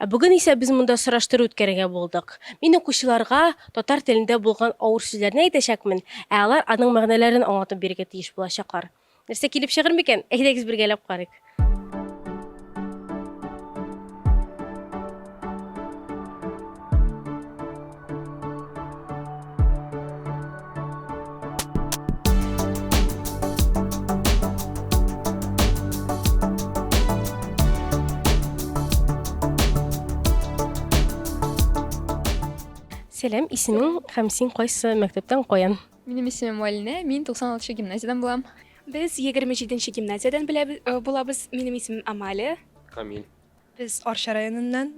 Ә бүген исә без монда сораштыру үткәрергә булдык. Мин укучыларга татар телендә булган авыр сүзләрне әйтәчәкмен, ә алар аның мәгънәләрен аңлатып бирергә тиеш булачаклар. Нәрсә килеп чыгыр микән? Әйдәгез бергәләп карыйк. Сәлам, исемең һәм син кайсы мәктәптән каян? Минем исемем Алинә, мин 96 гимназиядән булам. Без 27 гимназиядән булабыз. Минем исемем Амалия. Камил. Без Арча районыннан,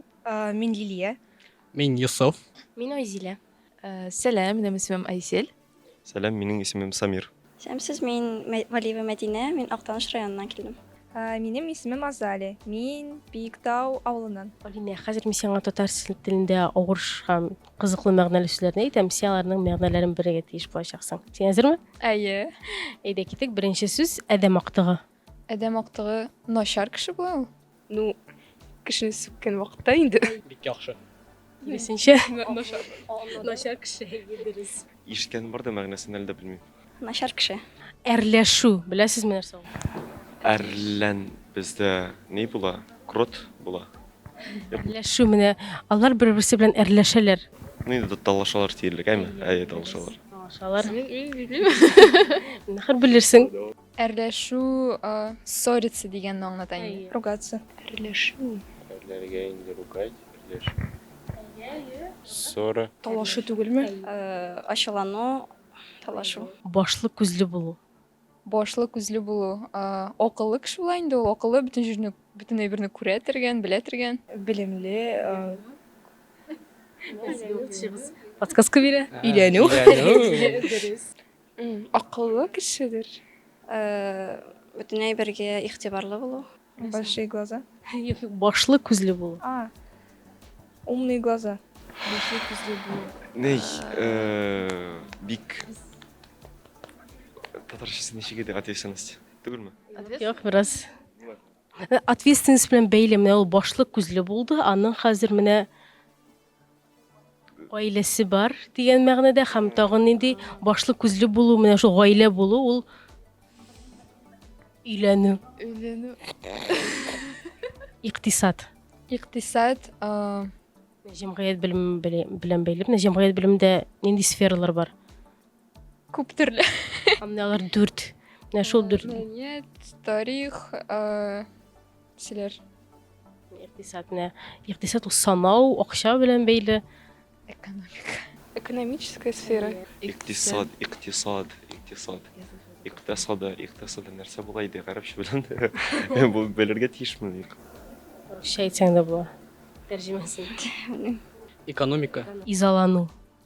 мин Лилия. Мин Йосыф. Мин Айзилә. Сәлам, минем исемем Айсел. Сәлам, минем исемем Самир. Сәламсез, мин Валиева Мәдинә, мин Актаныш районыннан килдем. Минем исемем Азалия, мин Биектау авылыннан. Алинә, хәзер мин сиңа татар телендә авыр һәм кызыклы мәгънәле сүзләрне әйтәм, син аларның мәгънәләрен белергә тиеш булачаксың. Син әзерме? Әйе. Әйдә китик, беренче сүз, адәм актыгы. Адәм актыгы начар кеше була ул? Ну, кешене сүккән вакытта инде. Бик яхшы. Киресенчә, начар. Начар кеше, әйе, дөрес. Ишеткәнем бар да, мәгънәсен әле дә белмим. Начар кеше. Әрләшү, беләсезме нәрсә ул? Әрлән бездә ни була? Крот була. Әрләшү менә алар бер-берсе белән әрләшәләр. Ну инде талашалар диярлек, әйме? Әйе, талашалар. Талашалар. Мин, мин белмим. Нахер белерсең. Әрләшү, а, ссориться дигәнне аңлата инде. Әйе. Ругаться. Әрләшү. Әрләргә инде ругать, әрләшү. Ссора. Талашу түгелме? Ә, ачулану, талашу. Башлы, күзле булу. Башлы, күзле булу, а, акыллы кеше була инде ул. Акыллы, бөтен җирне, бөтен әйберне күрә тергән, белә тергән. Белемле, а. Подсказка бирә. Өйләнү. Өйләнү. Дөрес. Акыллы кешедер. Бөтен әйбергә игътибарлы булу. Большие глаза. Юк, юк, башлы күзле булу. А. Умные глаза. Башлы күзле булу. Ней, бик татарчасы ничек иде ответственность? Түгелме? Юк, бераз. Ответственность белән бәйле менә ул башлы күзле булды, аның хәзер менә Гаиләсе бар дигән мәгънәдә һәм тагын нинди башлы күзле булу, менә шул гаилә булу ул өйләнү. Өйләнү. Иктисад. Иктисад, а җәмгыять белем белән бәйле. Менә җәмгыять белемендә нинди сфералар бар? Күп төрле. Менә алар дүрт. Менә шул дүрт. Мәдәният, тарих, Кешеләр. Икътисад менә. Икътисад ул санау, акча белән бәйле. Экономика. Экономическая сфера. Икътисад, икътисад, икътисад. Икътисада, икътисада нәрсә була иде гарәпчә белән? Бу белергә тиешме? Русча әйтсәң дә була. Тәрҗемәсен. Экономика. Изалану.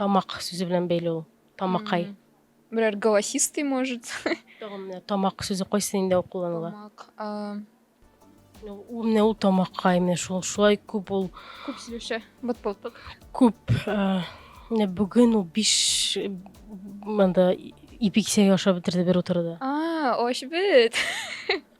тамак сүзе белән бәйле ул тамакай берәр голосистый может тагын менә тамак сүзе кайсы инде ул кулланыла тамак ул менә ул тамакай менә шул шулай күп ул күп сөйләшә бот болтык күп менә бүген ул биш монда ипи кисәге ашап бетерде бер утыруда а ошбит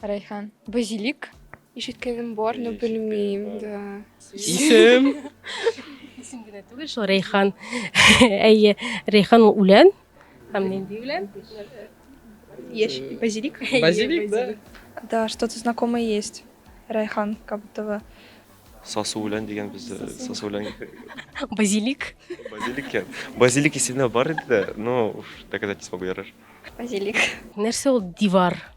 Райхан, базилик. Ишеткәнем бар, но белмим, да. Исем. Исем генә түгел шул Рәйхан. Әйе, Рәйхан ул үлән. Һәм нинди үлән? Яшь базилик. Базилик, да. Да, что-то знакомое есть. Райхан, как будто бы. Сасы үлән дигән без сасы үлән. Базилик. Базилик. Базилик исеме бар иде дә, но доказательство бу ярар. Базилик. Нәрсә ул дивар?